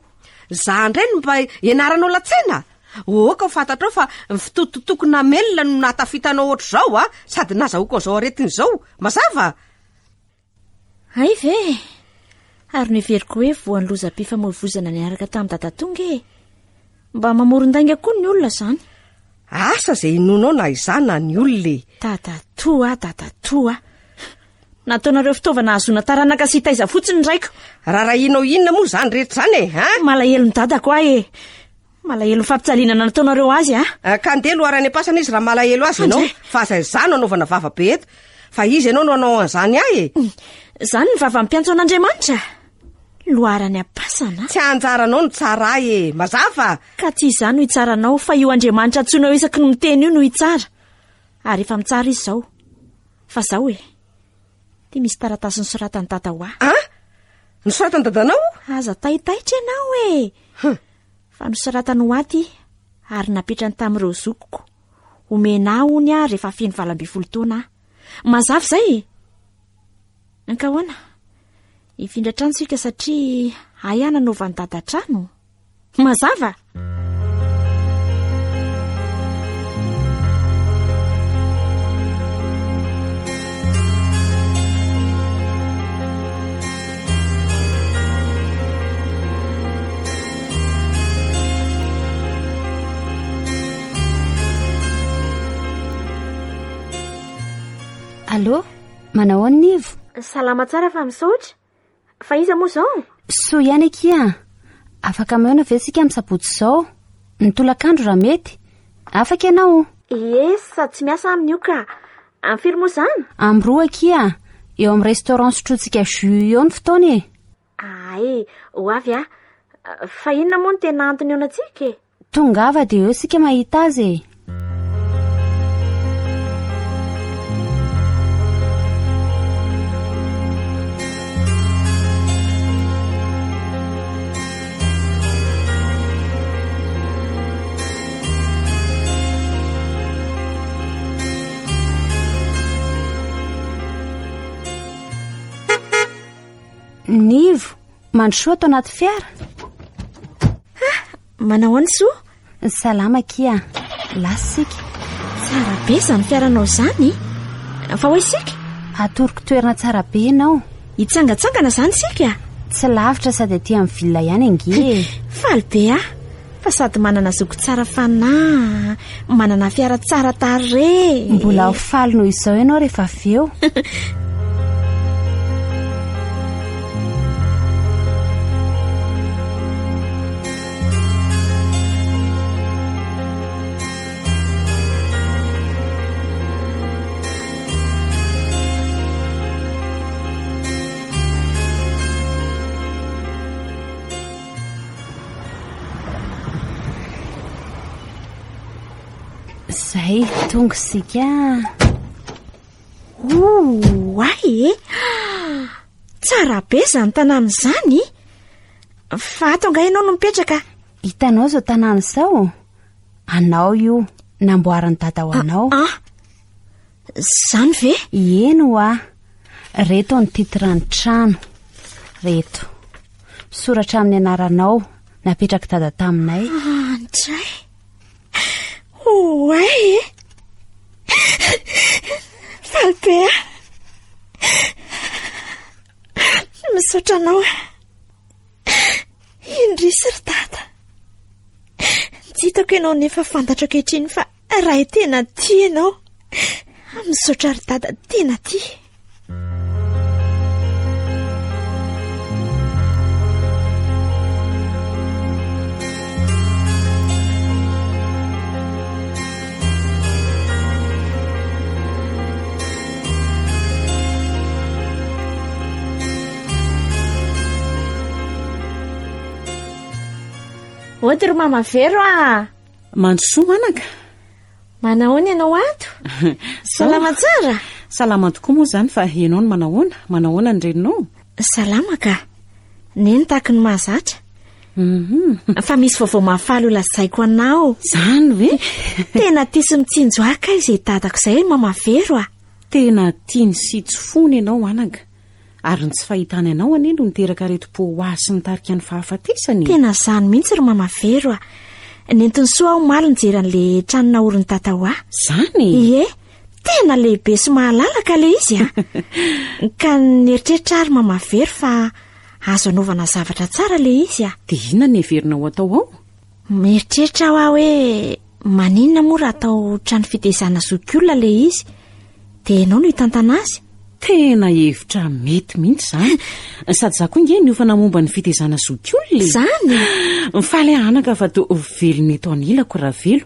Izaho indray no mba ianaranao latsena? Ohoka ho fantatrao fa ny fitototoako namelona no nahatafitanao ohatr'izao a! Sady nazahoako an'izao aretina izao. Mazava? Hay ve e! Ary noheveriko hoe voan'ny lozam-pifamoivoizana niaraka tamin'i Dadatonga e! Mba mamoron-dainga koa ny olona izany. Asa izay inoanao na izaho na ny olona e! Dadatoa a, dadatoa a! Nataonareo fitaovana hahazoana taranaka sy hitaiza fotsiny ny raiko. Raharahianao inona moa izany rehetra izany e, an? Malahelo ny dadako ahy e! Malahelo ny fampitsalinana nataonareo azy a! Eh, ka ndeha loara any am-pasana izy raha malahelo azy ianao fa aza izaho no anaovana vava be eto fa izy ianao no hanao an'izany ahy e! Hmm, izany ny vava ampiantso an'Andriamanitra? Loara any am-pasana? Tsy anjaranao ny tsara ahy e! Mazava? Ka tsy izaho no hitsara anao fa io Andriamanitra antsoinao isaky ny miteny io no hitsara. Ary efa mitsara izy izao. Fa izao e! Dia misy taratasy nosoratan'i dada ho ahy. Ah? Nosoratan'i dadanao? Aza taitaitra ianao e! Fa nosoratany ho ahy ity, ary napetrany tamin'ireo zokiko. Homena ahy hono aho rehefa feno valo ambin'ny folo taona aho. Mazava izay e! Ankahoana? Hifindra trano isika satria ahy aho nanaovan'i Dada trano. Mazava! Allo, manao ahoana ny ivo? Salama tsara fa misaotra. Fa iza moa izao? Soa ihany akia. Afaka mihaona ve isika amin'ny sabotsy izao? Ny tolakandro raha mety. Afaka ianao? Ie, sady tsy miasa aminy io ka. Am firy moa zany? Am roa akia, eo am restaurant sotrointsika jus eo ny fotoana e. Aay, ho avy ah. Fa inona moa no tena antony ionantsika e? Tongava dia eo sika mahita azy e. Nivo, mandrosoa ato anaty fiara. Ah, manao any soa. Salama kia, lasa isika. Tsara be izany fiaranao izany. Fa ho isika? Atoroko toerana tsara be ianao. Hitsangantsangana izany isika? Tsy lavitra sady aty amin'ny villa ihany ange. Faly be aho fa sady manana zoky tsara fanahy, manana fiara tsara tarehy. Mbola ho faly noho izao ianao rehefa avy eo. Zay, tonga isika. Oay e! Tsara be izany tanàna izany! Fa ato angaha ianao no mipetraka? Hitanao izao tanàna izao? Anao io, namboarin'i dada ho anao. Ah, ah. Zany ve? Eny ho ah. Reto ny titran'ny trano. Reto. Soratra amin'ny anaranao, napetrak'i dada taminay. Ah, ndray. Oay e. Eh. Falipea. Misaotra anao. Indrisy ry dada. Tsy hitako ianao nefa fantatro ankehitriny fa rahay tena tia ianao. Misaotra ry dada tena tia. Ody ry mama vero ah Mandrosoa manaka Manahoana ianao ato? Salama tsara? Salama tokoa moa izany fa ianao no manahoana? Manahoana ny reninao? Salama ka. Neny tahaky ny mahazatra. Fa misy vaovao mahafaly ho lazaiko anao. Zany ve? Tena tia sy mitsinjo ahy kay izay dadako izay hoy Mama Vero ah. Tena tiany sy tsy fony ianao anaka, ary ny tsy fahitany anao anie no niteraka aretim-po ho ahy sy nitarika ny fahafatesany e. Tena zany mihitsy ry Mama Vero ah. Nentin'i Soa aho omaly nijery an'le trano naorin'i Tata ho ahy. Zany? Ie, tena lehibe sy mahalalaka le izy ah. Ka nieritreritra aho ry Mama Vero fa Azo anaovana zavatra tsara ilay izy a! Dia inona no heverina ho atao ao? Mieritreritra aho hoe maninona moa raha atao trano fitehizana zokiolona ilay izy? Dia ianao no hitantana azy? Tena hevitra mety mihitsy izany. Sady izaho koa nge niofana momba ny fitehizana zokiolona e! Izany? Mifaly aho anaka fa toa velona eto anilako Ravelo.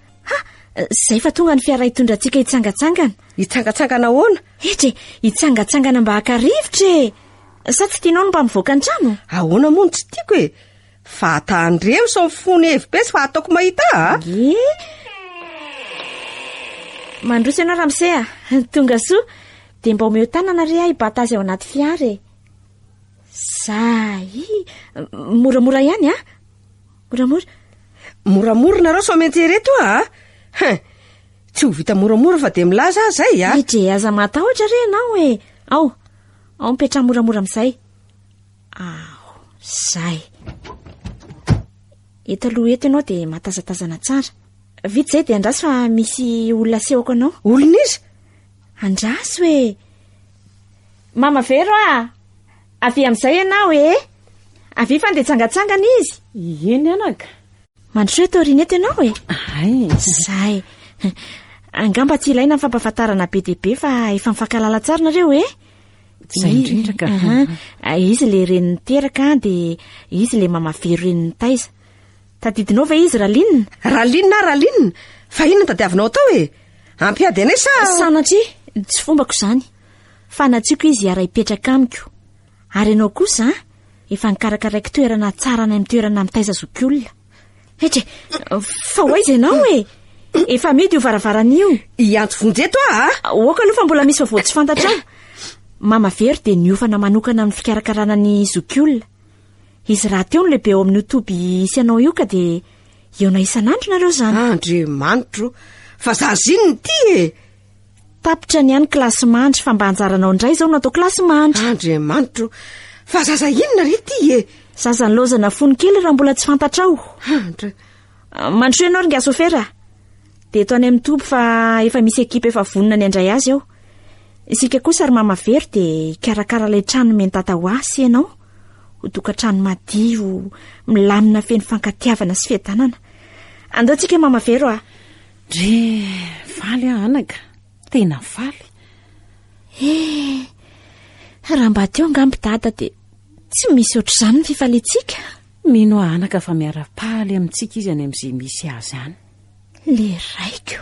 Ha! Izay fa tonga ny fiara hitondra antsika hitsangatsangana. Hitsangatsangana ahoana? Hetra e, hitsangatsangana mba haka rivotra e. Sa tsy tianao ny mba mivoaka ny trano? Ahoana moa no tsy tiako e? Vatan-dremo sy ny fony hevi-petsy fa ataoko mahita a? Ah? Ye. Mandroso ianao Ramse a. Ah. Tonga soa. Dia mba omeo tanana re ahy hibata azy ao anaty fiara e. Zay. Moramora ihany a. Ah. Moramora? Moramora nareo sao mety ereto a! Hein! Tsy ho vita moramora fa dia milaza aho izay a! Ry Dre aza matahotra re ianao e! Ao! Ao mipetraha moramora amin'izay! Ao! Izay! Eto aloha eto ianao dia matazatazana tsara. Vita izay dia andraso fa misy olona asehoko anao. Olona iza? Andraso e! Mama Vero a! Avia amin'izay ianao ee. Avia fa ndeha hitsangatsangana izy. Ie ny anaka. Mandrosoa eto aorian'eto ianao e. Ay. Zay. Angamba tsy ilaina ny fampahafantarana be dia be fa efa mifankahalala tsara nareo e. Izay indrindra ka. Izy ilay reny niteraka dia izy ilay mama vero reny nitaiza. Tadidinao ve izy Raline? Raline ah Raline? Fa inona no tadiavinao atao e? Hampiady anay sa? Sanatria, tsy fombako izany. fa natsiako izy hiara-hipetraka amiko. Ary ianao kosa an, efa nikarakaraiko toerana tsara any amin'ny toerana mitaiza zokiolona. Hetre, fa ho aiza ianao e? Efa mihidy io varavarana io. Hiantso vonjy eto aho a! Aoka aloha fa mbola misy vaovao tsy fantatrao. Mama Vero dia niofana manokana amin'ny fikarakarana ny zokiolona. Izy rahateo no lehibe ao amin'io toby hisy anao io ka dia hihaona isan'andro nareo izany. Andriamanitro, fa za ziny ity e! Tapitra ny any kilasy mandry fa mba anjaranao indray izao no atao kilasy mandry. Andriamanitro, fa zaza inona re ity e? Zaza nilaozana fony kely raha mbola tsy fantatrao. Andra. Mandrosoa ianao ry Ngasofera. Dia eto any amin'ny toby fa efa misy ekipa efa vonona ny handray azy ao. Isika kosa ry Mama Vero dia hikarakara ilay trano nomen'i Tata ho ahy sy ianao. Ho tokantrano madio, milamina feno fankatiavana sy fiadanana. Andao tsika Mama Vero ah. Dry, faly aho anaka, tena faly. Eh, raha mba teo angamba i dada dia tsy misy ohatr'izany ny fifaliantsika. Mino aho anaka fa miara-paly amintsika izy any amin'izay misy azy any. Le raiko.